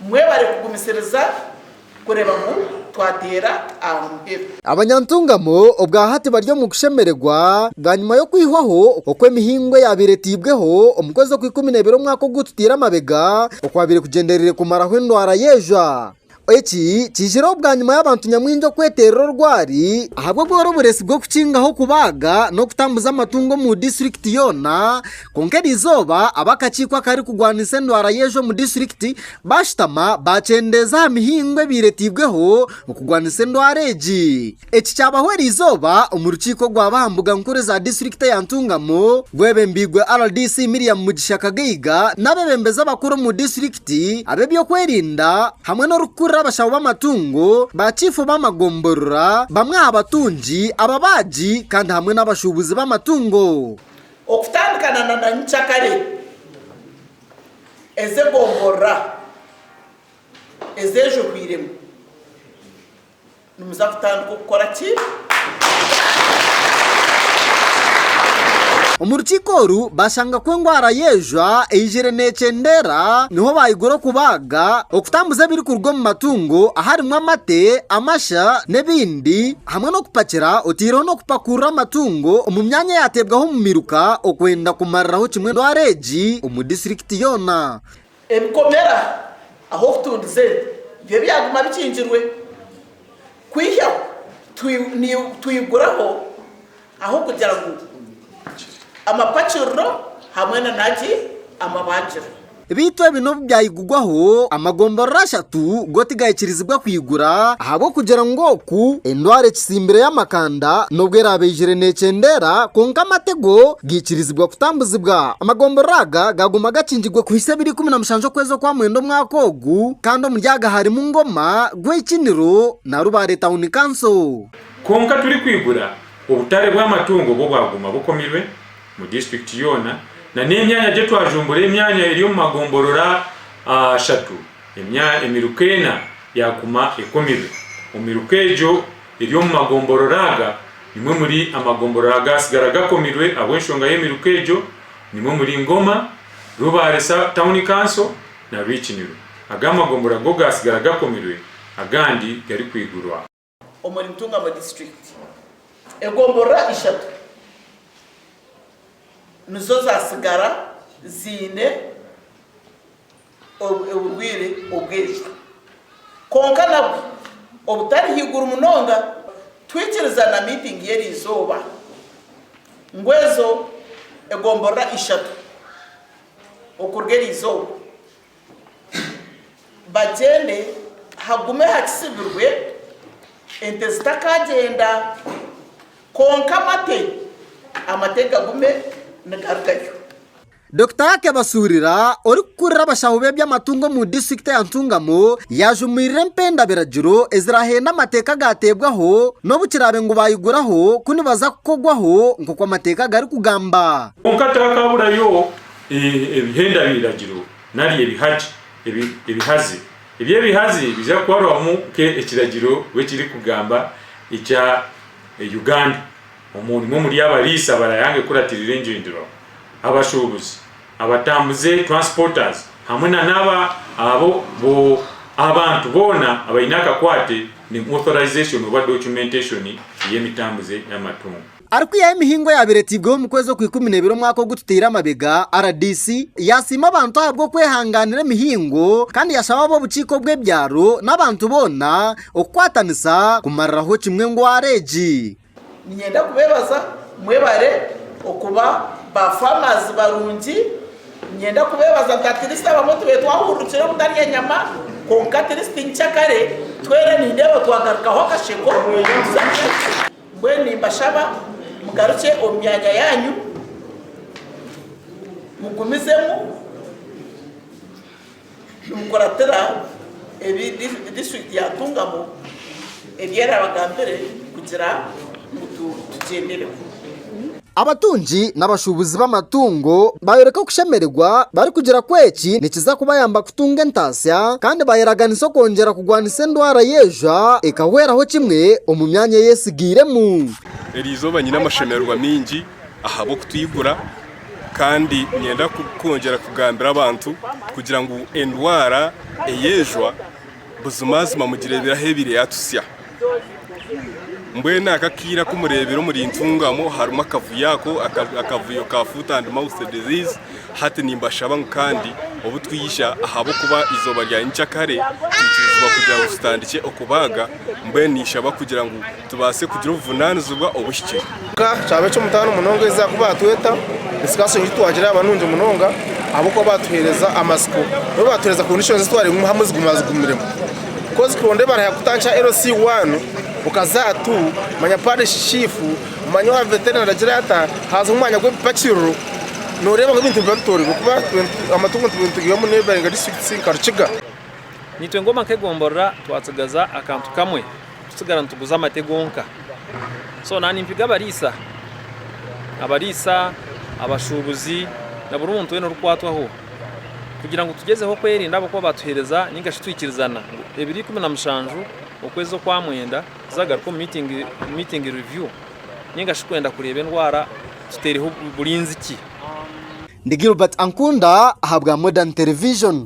Mwebare kugumisiriza kureeba ngu twateera aha muheru. Abanyantungamo obwa hati bari omu kushemererwa bwanyima y'okwihwaho okw'emihingo eyaabaire etaibweho omu kwezi okw'ikumi neibiri omwaka ogu tutaire amabega okwabaire kugyendereire kumaraho endwara y'ejwa. Eki kiijireho bwanyima y'abantu nyamwingi okweterera orwari ahabw'obworoboresi bw'okukingaho okubaaga n'okutambuza amatungo omu disiturikiti yoona Kwonka eri izooba ab'akakiiko akarikugwanisa endwara y'enjwe omu disiturikiti baashutama baakyendeeza aha mihingo ebaireteibweho okugwanisa endwara egi. Eki kyabaho eri izooba omu rukiiko orwaba aha mbuga nkuru eza disiturikiti eya Ntungamo rwebembeirwe rdc Miriam Mugisha Kagaiga n'abeebembezi abakuru omu disiturikiti, ab'ebyokwerinda hamwe n'orikukurira abashaho b'amatungo, ba chiifu b'amagomborora, bamwe aha batungi, ababaagi kandi hamwe n'abashuubuzi b'amatungo. Okutandikana na na nyikyakare, ezi egomborora ezejwehwiremu nimuza kutandika okukora ki? Omu rukiiko oru bashanga ku engwara y'ejwa eijire neekyendeera niho baayigura okubaaga, okutambuza ebirikuruga omu matungo aharimu amate, amasha n'ebindi. hamwe n'okupakira otaireho n'okupakuurira amatungo omu myanya eyaateebwaho omu miruka okwenda kumariraho kimwe endwara egi omu disitirikiti yoona. Ebikomera ahu okutundiza ente byo byaguma bikingirwe kwihyaho, twiguraho. Ahabw'okugira ngu amapakiriro hamwe na naki amabangiro. Beitu ebi n'obu byayigugwaho, amagomborora ashatu go tigayikirizibwa kwigura, ahabw'okugira ngu oku endwara ekitsimbire y'amakanda n'obu eraabe eyijire neekyendeera, kwonka amate go gaikirizibwa kutambuzibwa. Amagomborora aga gaaguma gakingirwe kuhitsya ebiro ikumi na mushanju okwezi okwa mwenda omwaka ogu, kandi omuri aga harimu Ngoma, Gwekiniro na Rubare Town Council. Kwonka turikwigura obutare bw'amatungo obu obwaguma bukomirwe mu disiturikiti yoona nana emyanya gye twajumbura emyanya eri omu magomborora ashatu emiruka ena yaguma ekomirwe. Omu miruka egyo eri omu magomborora aga nimwo omuri amagomborora agaatsigara gakomirwe ahabw'enshonga y'emiruka egyo nimwo omuri Ngoma, Rubare Town Council na Rwikinirwe. Aga amagombora go gaatsigara gakomirwe agandi garikwigurwa. omuri Ntungamo District. Egomborora ishatu nizo zatsigara ziine oburwire obw'enjwa kwonka nabwo obutari haiguru munonga. Twikiriza na miitingi y'eriizooba ngu ezo egomborora ishatu okuruga eriizooba. Bagyende hagume hakisibirwe ente zitakagyenda kwonka amate amate gagume nigarugayo. Dokita Ake Basuurira orikukurira abashaho b'eby'amatungo omu disiturikiti ya Ntungamo yaajumirire empenda-biragiro ezirahenda amateeka agaateebwaho n'obu kiraabe ngu baayiguraho ku nibaza kukogwaho nk'oku amateeka garikugamba. Kwonka tihakaaburayo Ebihenda biragiro nari ebihagi, ebihazi. Ebi ebihazi biija kuharwamu nke ekiragiro we kiri kugamba ekya Uganda. Omwo nimwo omuri abariisa barayanga ekuratirira engyenderaho, abashubuzi, abatambuze, transporters, hamwe na naba abo bo abantu boona abaine akakwate ni authorization oba documentation yemitambuze yamatungo. Arikwihaho emihingo eyaabaire etairweho omu kwezi okw'ikumi na ibiri omwaka ogu tutaire amabega, rdc yaasiima abantu ahabw'okwehangaanira emihingo kandi yashaba ab'obukiiko bw'ebyaro n'abantu boona okukwatanisa kumariraho kimwe endwara egi. Niinyenda kubeebaza mwebare okuba ba farmers barungi. Niinyenda kubeebaza nti at least abamwe tubaire twahururukire obutarya enyama kwonka at least nkya kare twena nindeeba twagarukaho akasheko. Mbwenu nimbashaba mugarukye omu myanya yaanyu, mugumizemu nimukuratira ebi disiturikiti ya Ntungamo ebi erabagambire kugira ngu tugyendereho. Abatungi n'abashuubuzi b'amatungo baayoreka okushemererwa barikugira ku eki nikiza kubayamba kutunga entaasya kandi baayeraganisa okwongyera kurwanisa endwara y'eijwa ekahweraho kimwe omu myanya ei etsigairemu. Eri izooba nyine amashemererwa maingi ahabw'okutwigura kandi niinyenda kwongyera kugambira abantu kugira ngu endwara ey'eijwa, Buzimazima mugireebiraho ebaire yaatusya. Mbwenu aka akaire aku mureebire omuri Ntungamo harimu akavuyo ako, akavuyo ka foot and mouth disease, hati nimbashaba ngu kandi obu twija ahabw'okuba eizooba rya nyikyakare, twikirizibwa kugira ngu tutandikye okubaaga, mbwenu ninshaba kugira ngu tubaase kugira obuvunaanizibwa obuhikire. Ka kyaba eky'omutaano munonga ezi zaakuba atweta, entsigatsitso ngu titwagira yaaba nungi munonga ahabw'okuba baatuheereza amatsiko. Nabwo baatuheereza kondishoni ezi twareebiremu hamwe ziguma zigumiremu. Bikozi kuronda ebara ya kutandikira LC one, okaza aha tu, manya Parish Chief, manya owa Veterinary agire ata, haazaho omwanya gw'ebipakiriro, nooreeba ngu ebintu nibiba bitooroirwe kuba amatungo nitubiha nitugihamu neighbouring districts nka Rukiga. Naitwe ng'omaka egomborora twatsigaza akantu kamwe. Tusigara nituguza amate gonka. So naaba nimpiga abariisa, abariisa, abashuubuzi na buri muntu weena orikwatwaho kugira ngu tugyezeho kwerinda ahabw'okuba baatuheereza nainga shi twikirizana ngu ebiri ikumi na mushanju okwezi okwa mwenda tuzagaruke omu meeting review nainga shi kwenda kureeba endwara tuteereho burinzi ki. Ndi Gilbert Ankunda ahabwa Modern Television.